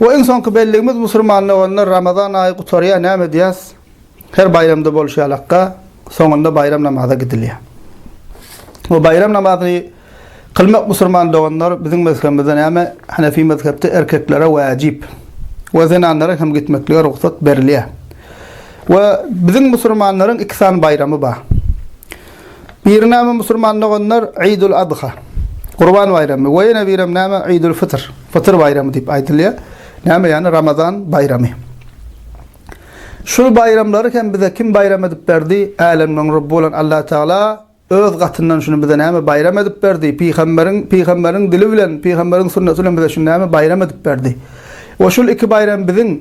We iň soňky belligimiz musulman doganlar Ramazan aýy gutarýar, näme edýäs? Her baýramda bolşy ýalakka, soňunda baýram namaza gidilýär. Bu baýram namazyny kylmak musulman doganlar biziň mezhebimizde näme? Hanefi mezhepde erkeklere wajyp we zenanlara hem gitmeklige rugsat berilýär. We biziň musulmanlaryň iki sany baýramy bar. Biri näme musulman doganlar Idul Adha, Gurban baýramy we ýene birem näme Idul Fitr, Fytyr baýramy diýip aýdylýar. Näme ýany Ramazan baýramy. Şul baýramlary hem bize kim baýram edip berdi? Älemleň Rabby bolan Allah Tagala öz gatyndan şuny bize näme baýram edip berdi? Pygamberiň pygamberiň dili bilen, pygamberiň sunnaty bilen bize şuny näme baýram edip berdi? We şul iki baýram biziň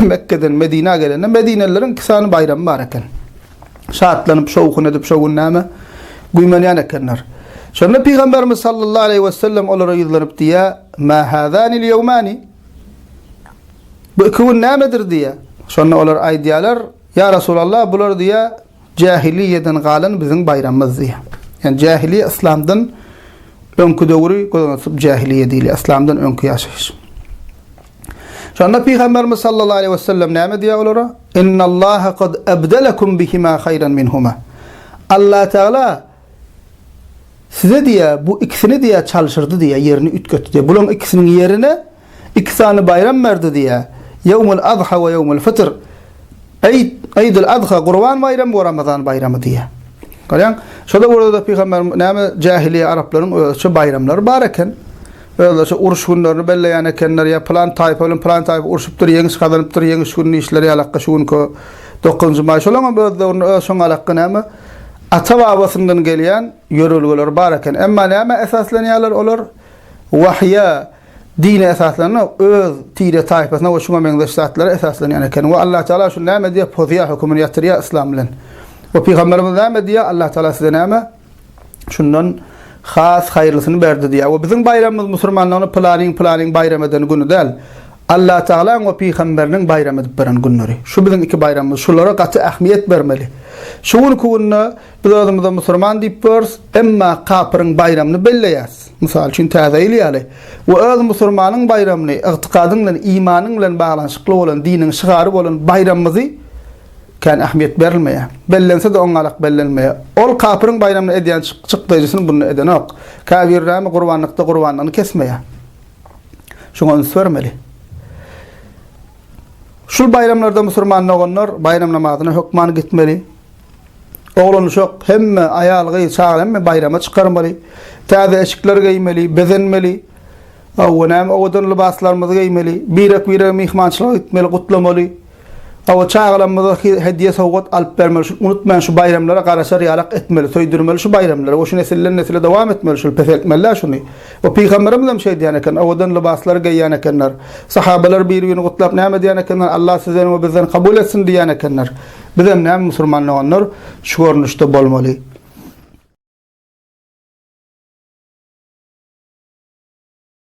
Mekgeden Medinä gelende medinelileriň iki sany baýramy bar eken. Şatlanyp, şowhun edip şo gün näme güýmenýän ekenler. Şonda Pygamberimiz sallallahu aleýhi we sellem olara ýüzlenip diýýär, Mä hâzânil ýewmâni? Bu iki gün nämedir diýýär. Şonda olar aýdýarlar, Ýa Resulallah, bular diýýär, Jähiliýeden galan biziň baýramymyzdy. Ýani jähiliýe yslamdan öňki döwri göz öňüne tutup jähiliýe diýilýär. Yslamdan öňki ýaşaýyş. Şonda Pygamberimiz sallallahu aleýhi we sellem näme diýýär olara? Innallaha kad ebdelekum bihima haýran minhuma. Allah Teala size diýýär, bu ikisini diýýär çalşyrdy diýýär, ýerini üýtgetdi diýýär. Bularyň ikisiniň ýerine Iki sany baýram bardy diýýär. Ýewmül Azha we Ýewmül Fytr. Eýd, Eýdül Azha, Gurban baýramy we Ramazan baýramy diýýär. Görýäňmi? Şol döwürde-de pygamberimiz näme jähiliýe araplaryň özüçe baýramlary bar eken. Özlerçe uruş günlerini belleýän ekenler, ýa pylan taýpa bilen pylan taýpa urşupdyr, ýeňiş gazanypdyr, ýeňiş gününi işleri ýalakka şu günki dokuzynjy maý. Şolaryň hem öz döwründe öz şoňalakky näme ata-babasyndan gelýän ýörelgeleri bar eken. Emma nämä esaslanýarlar olar? Wahýa. Dine esaslanmak öz tire taýpasyna we şuňa meňzeş zatlara esaslanýan eken. We Allah Teala şuny näme diýýär pozýar hökümini ýatyrýar yslam bilen. We pygamberimiz näme diýýär Allah Teala size näme şundan has haýyrlysyny berdi diýýär. We biziň baýramymyz musurmanlaryň pylanyň pylanyň baýram eden güni däl. Allah Tealaň we pygamberiniň baýram edip beren günleri. Şu biziň iki baýramymyz. Şulara gaty ähmiýet bermeli. Şu günki günde Biz özümize musurman diýip görüs, emma kapyryň baýramyny belleýäs, mysal üçin Täze ýyl ýaly, we öz musurmanyň baýramyny, ygtykadyň bilen, imanyň bilen baglanyşykly bolan, diniň şygary bolan baýramymyzy kän ähmiýet berilmeýär. Bellense-de oňňalak bellenmeýär. Ol kapyryň baýramyny edýän çykdaýjysyny bunda edenok. Käbiri näme gurbanlykda gurbanlygyny kesmeýär. Şuňa üns bermeli. Şul baýramlarda musurman doganlar baýram namazyna hökman gitmeli, Oglan-uşak, hemme, aýal-gyz, çaga hemme baýrama çykarmaly, täze eşikler geýmeli, bezenmeli. Hawa, näme owadan lybaslarymyzy geýmeli, birek-birege myhmançylyga gitmeli, gutlamaly. Hawa, çagalarymyza hediýe sowgat alyp bermeli, şuny unutmaýan şu baýramlara garaşar ýalak etmeli, söýdürmeli şu baýramlary we şu nesilden-nesile dowam etmeli şuny, peseltmeli-dä şuny. We pygamberimiz hem şeý diýen eken, owadan lybaslary geýýän ekenler. Sahabalar bir-birini gutlap näme diýen ekenler, Allah sizden we bizden kabul etsin diýýän ekenler. Bizem näme musurman doganlar şu görnüşde bolmaly.